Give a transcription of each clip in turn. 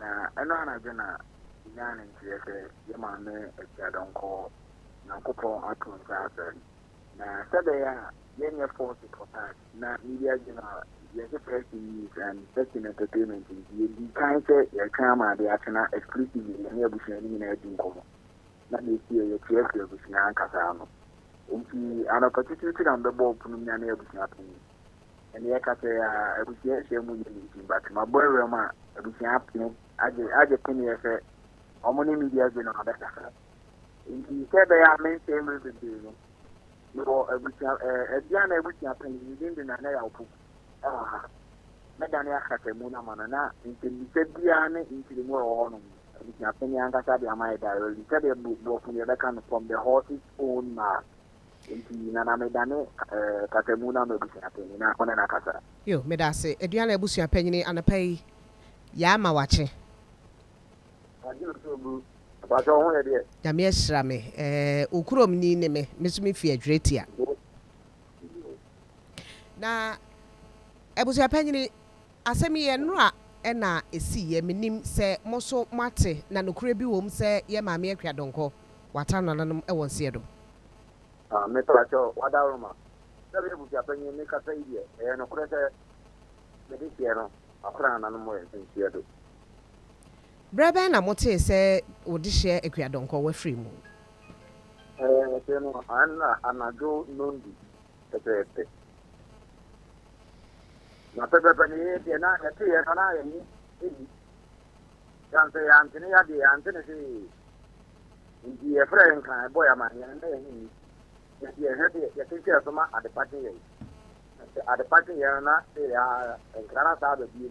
Na ɛno anadwo na nyaa ne nteɛ sɛ yɛ maame Agyadɔnkɔ Nyankopɔn ato nsa afrɛ no. Na sɛbɛyɛ a yɛnyɛ forced for tax na media general yɛgye press release and text and entertainment nti yɛdii kan sɛ yɛretwɛn ama ade akye na exclusively yɛne abusua no nyinaa di nkɔmmɔ na deɛ ɛsiiɛ yɛte afiri abusua ankasa ano nti anɔpa titiriw ti na mebɛbɔɔ pono mu nyane abusua panin Ɛnde yɛka sɛ abusua nhyiam mu yɛ nti, but mabɔ awuram a abusua apene agye agye peneɛ sɛ wɔn ne media gye no abɛkasa. Nti sɛ ɛbɛyɛ a mensɛe mmerɛ bebree no, mewɔ abusua ɛɛ abia na abusua panyin ne din de Nana Yawpo ɛwɔ ha. Mɛdane akasamu no ama no na nsɛmmisa biara ne nkyerɛmu a ɛwɔ hɔ nom no, abusua panyin ankasa de ama yɛ directly sɛdeɛ borɔfo no yɛbɛka no from the horse's own mouth. Enti na na medane kasamu no ama abusua panyin na ɔne no akasa. Yo, meda ase. Aduan a abusua panyin anɔpa yi yɛ ama wakye. Agye o so bro. Mpakyɛw wo ho yɛ deɛ? Nyame ahyira me. Ɛɛ wo kurom ni ne me. Me nso me fi Adwiratia. Na abusua panyin. Asɛm yi yɛ nnora na ɛsiiɛ, menim sɛ mo nso moate, na nokorɛ bi wom sɛ yɛn Maame Akua Donkor wata nananom wɔ nseɛ do. Ah, mepakyɛ wo, Wadaroma, sɛ meyɛ abusuapanyin, me kasa yi deɛ, ɛyɛ nokorɛ sɛ mede seɛ no wata nananom wɔ nseɛ do. Berɛ bɛn na motee sɛ wo dehyeɛ Akua Donkor wafiri mu? Ɛɛ, tee no anna anadwo nnɔndu, pɛpɛɛpɛ. Na pɛpɛɛpɛ no yɛyɛ deɛ na yɛte yɛ no na yɛn ho ehi. San sɛ yɛante ne yadeɛ yɛante ne hwee. Nti yɛfrɛ yɛn kan ɛbɔ yɛn amaneɛ no na yɛn ho nni. Yɛde yɛn hwɛ deɛ yɛte nkyɛn so ma adepa kye yɛn. Sɛ adepa kye yɛn no na yɛyɛ ara nkra na saa aba bio.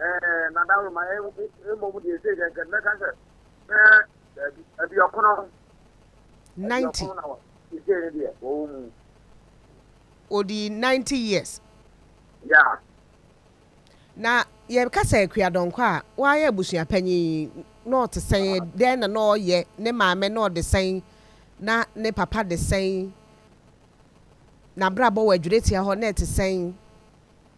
Ɛɛ, na da ma ɛ mmom deɛ ɛsɛ yɛ nkɛn mɛka sɛ bɛɛ daabi aduɔkono. Ninety. Aduɔkono na wɔ ɛsɛ yɛ deɛ wɔwɔ mu. Odi ninety years. Ya. Na yɛka sɛ Akua Dɔnkɔ a wayɛ abusuapanyin yi na ɔte sɛn dɛn na na ɔyɛ ne maame na ɔde sɛn na ne papa de sɛn n'abrabɔ wɔ adwuretia hɔ na ɛte sɛn.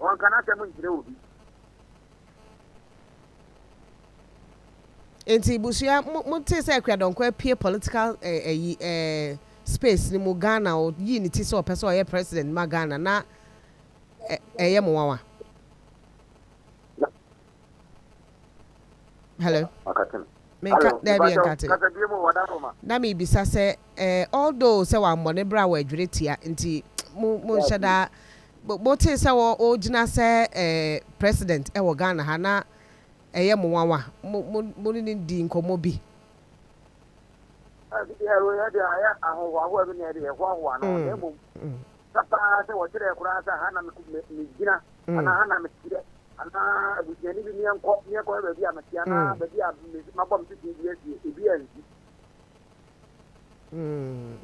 Ɔnka n'asɛm nkyerɛ obi. Nti busua mo mo tee sɛ Akua Dɔnkɔ apue political eh, ayi eh, space no mu Ghana o yii ne ti sɛ ɔpɛ sɛ ɔyɛ president ma Ghana na eh, ɛyɛ mo nwanwa. Hello. Menka daabi ɛnkate. Na mebisa sɛ eh, although sɛ wammɔ ne bra wɔadwere tia nti mo mo nhyɛ daa motee sɛ ɔgyina sɛ eh, president ɛwɔ Ghana ha na ɛyɛ mo nwanwa mo ne no di nkɔmmɔ bi. Mm. Mm. Anaa abusuani bi meɛnkɔ meɛnkɔhwɛ baabi a mete anaa mm. baabi a mabɔ me tete bi asie ebi ansi. Mm.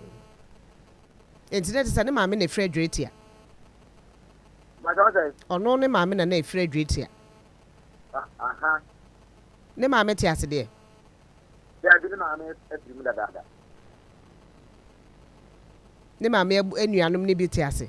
Nti na ɛte sɛ ne maame na efiri adwiri tia. Ɔno ne maame na na efiri adwiri tia. Ne maame te ase deɛ. Daabi ne maame afiri mu dadaada. Ne maame anuanom ne bi te ase.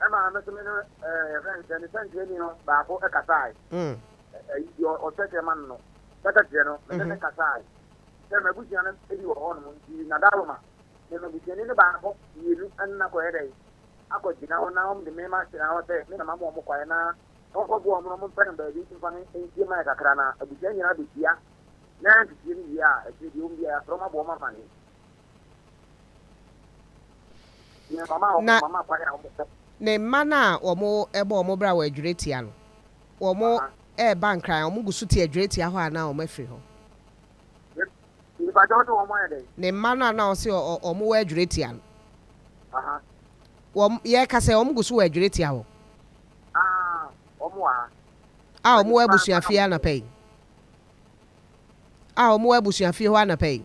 ɛmaa me so me no yɛfrɛ no sɛ ne sɛnkyerɛni no baako kasae deɛ ɔkyerɛkyerɛ ma no no bɛka kyerɛ no mede ne kasae sɛ m'abusua no bi wɔ hɔ nom nti nadaloma ne m'abusuani no baako mmienu ɛnna kɔyɛ dɛ akɔgyina hɔ na wɔn de me ma gyina hɔ sɛ me na mama wɔn kwaeɛ na wɔnkɔboa wɔn na wɔn mpɛ no baabi mfa no nsie mayɛ kakra na abusua nyinaa bɛhyia na nteteɛ no wie a ɛkyerɛ deɛ wɔn biara yɛasrɛ wɔn aboɔ ma ma ne Na ne mma no a wɔbɔ wɔn bra wɔ adwirɛtia no, wɔreba nkran a, wɔgu so te adwirɛtia hɔ anaa wɔafiri hɔ? Ne mma no a na ɔse wɔwɔ adwirɛtia no, yɛreka sɛ wɔgu so wɔ adwirɛtia hɔ? A wɔwɔ abusuafie anɔpa yi? A wɔwɔ abusuafie hɔ anɔpa yi?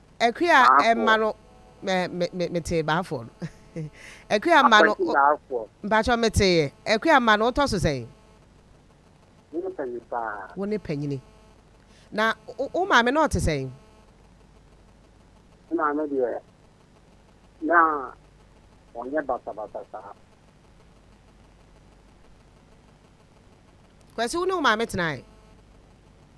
Akua mma no metee baafoɔ no akua mma no mpakyɛw meteeɛ akua mma no wotɔ so sɛn. Wo ne panyin paa. Wo ne panyini na wo maame na ɔte sɛn. Me maame deɛ na ɔnyɛ basabasa saa. Kwasi wo ne wo maame tenae.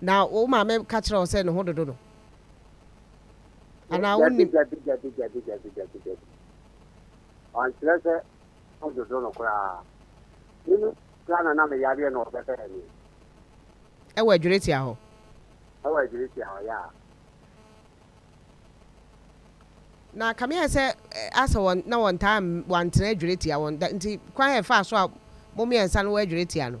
Na wo maame ka kyerɛɛ wo sɛ ne ho dodo no? Anaa wonim? Dabi, dabi, dabi, dabi, dabi, dabi. Ɔnkyerɛ sɛ ho dodo no koraa. Mimi koraa na na me yareɛ na ɔbɛbɛɛ me. Ɛwɔ Adwiritia hɔ? Ɛwɔ Adwiritia hɔ, yaa. Na ka meaɛ sɛ asɛ wɔn na wɔntaa wɔantena Adwiritia wɔn da nti kwan a ɛfaa so a mo mmiɛnsa no wɔ Adwiritia no?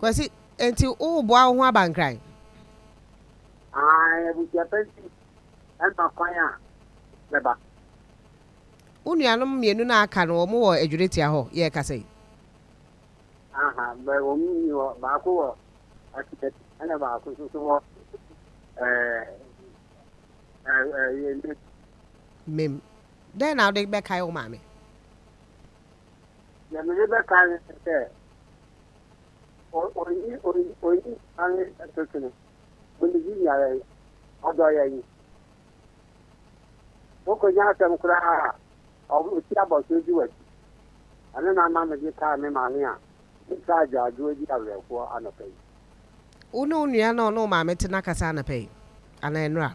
Kwasi, enti woreboa wo ho abankran? Ae, abusua pa nti, ɛma kwan a mɛba. Wo nuanom mmienu no a aka no, wɔwɔ Adwiritia hɔ yɛrekasa yi? Aha, wɔn nni hɔ. Baako wɔ Akyinad, ɛna baako nso so wɔ Mem. Mem. Dɛn na wode bɛkae wo maame? Deɛ mede bɛka ne sɛ ɔyi ɔyi ɔyi ane ɛtotene ɔne bi nyara yi ɔdɔ yɛ yi wokɔnya asɛm koraa a ɔsi abɔso di w'akyi ɛno na ama mede kaa me maame a metaa agyaadwoɔ di awerɛhoɔ anɔpa yi wo ne wo nua na ɔne wo maame te no akasa anɔpa yi anaa nnora?